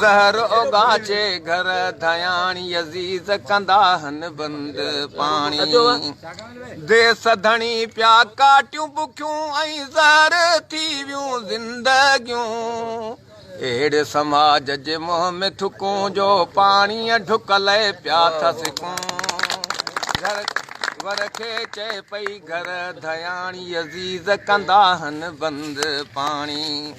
زهر اوڳاڇي گهر ڌياڻي عزيز ڪندا هن بند پاڻي ديس ڌڻي پيا ڪاٽيون بکيون ۽ زهر ٿي ويون زندگيون اهڙي سماج جي منهن ۾ ٿڪون جو پاڻي ڍڪ لئي پيا ٿا سڪون گهر ور کي چئي پئي گهر ڌياڻي عزيز ڪندا هن بند پاڻي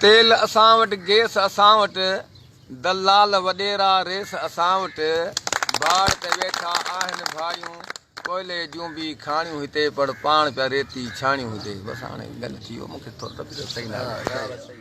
تيل اسان وٽ گيس اسان وٽ دلال وڏيرا ريس اسان وٽ باڙ تي ويٺا آهن ڀاڙيون ڪوئلي جون به کاڻيون هتي پڙ پاڻ پيا ريتي ڇاڻيون هتي بس هاڻي گڏ ٿيو مونکي ٿو ته صحيح نه